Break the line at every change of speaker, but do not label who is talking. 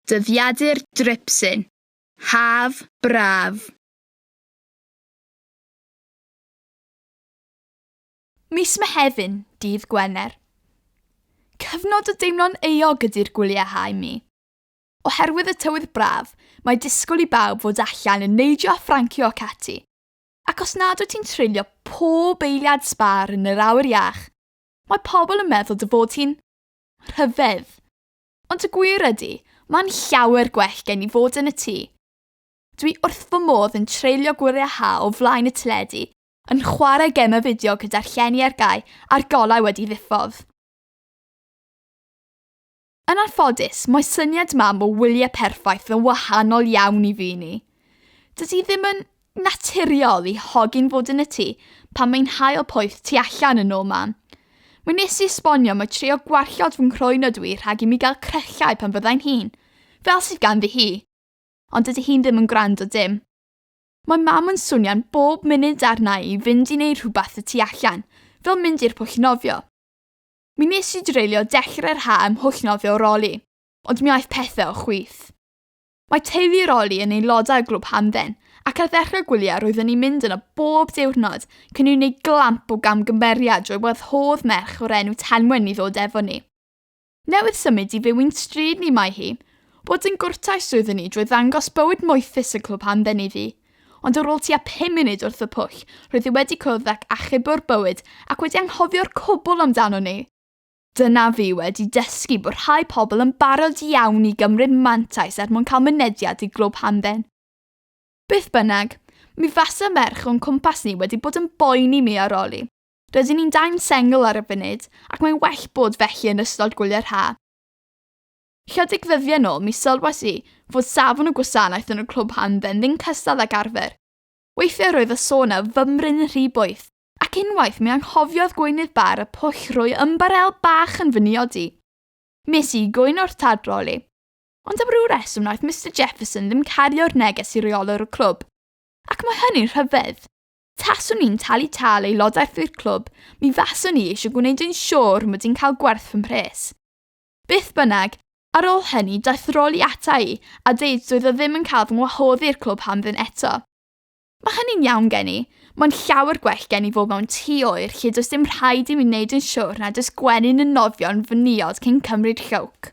Dyddiadur Dripsyn, haf braf.
Mis Mehefin, dydd Gwener. Cyfnod o deimlo'n euog ydy'r gwyliau hau mi. Oherwydd y tywydd braf, mae disgwyl i bawb fod allan yn neidio a ffrancio ac ati. Ac os nad wyt ti'n treulio pob eiliad sbâr yn yr awyr iach, mae pobl yn meddwl dy fod ti'n rhyfedd. Ond y gwir ydy, mae'n llawer gwell gen i fod yn y tŷ. Dwi wrth fy modd yn treulio gwyliau hau o flaen y teledu yn chwarae gemau fideo gyda'r llenni ar gau a'r golau wedi ddiffodd. Yn anffodus, mae syniad mam o wyliau perffaith yn wahanol iawn i fi ni. Dydy ddim yn naturiol i hogyn fod yn y tŷ pan mae'n hael poeth tu allan yn ôl mam. Mae nes i esbonio mae trio gwarchod fy nghroen ydw i rhag i mi gael cryllau pan fyddai'n hun, fel sydd ganddi hi. Ond dydy hi'n ddim yn gwrando dim. Mae Mam yn swnio'n bob munud arna i fynd i wneud rhywbeth y tu allan, fel mynd i'r pwll nofio. Mi nes i dreulio dechrau'r ha' ym mhwll nofio Roli, ond mi aeth pethe o chwith. Mae teulu Roli yn aelodau o Glwb Hamdden, ac ar ddechrau gwyliau roeddwn i'n mynd yno bob diwrnod cyn i ni wneud glamp o gamgymeriad drwy wahodd merch o'r enw Tenwen i ddod efo ni. Newydd symud i fyw i'n stryd ni mae hi. Bod yn gwrtais oeddwn i drwy ddangos bywyd moethus y clwb hamdden iddi. Ond ar ôl tua pum munud wrth y pwll, roedd hi wedi cwrdd ac achub o'r bywyd ac wedi anghofio'r cwbl amdanon ni! Dyna fi wedi dysgu bod rhai pobl yn barod iawn i gymryd mantais er mwyn cael mynediad i glwb hamdden. Beth bynnag, mi fasa merch o'n cwmpas ni wedi bod yn boeni mi ar ol i. Rydyn ni'n dain sengl ar y funud ac mae'n well bod felly yn ystod gwyliau'r ha'. Chydig ddyddiau nôl mi sylwais i fod safon y gwasanaeth yn y clwb ha'n dden ddim cystal ag arfer. Weithiau roedd y sôn a fymryn yn rhy boeth, ac unwaith mi anghofiodd gweinydd bar y pwll roi ymbarel bach yn fy niod i. Mi es i i gwyno wrth tadroli. Ond am ryw reswm wnaeth Mister Jefferson ddim cario'r neges i reolwr y clwb. Ac mae hynny'n rhyfedd. Taswn i'n talu tâl aelodaeth i'r clwb, mi faswn i eisiau gwneud yn siŵr mod i'n cael gwerth fy mhres. Beth bynnag, ar ôl hynny daeth Rolly ata i a deud doedd o ddim yn cael fy ngwahodd i i'r clwb ham ddim eto. Mae hynny'n iawn gen i, mae'n llawer gwell gen i fod mewn tŷ oer lle does dim rhaid i mi wneud yn siŵr nad oes gwenyn yn nofio'n fy niod cyn cymryd llwc.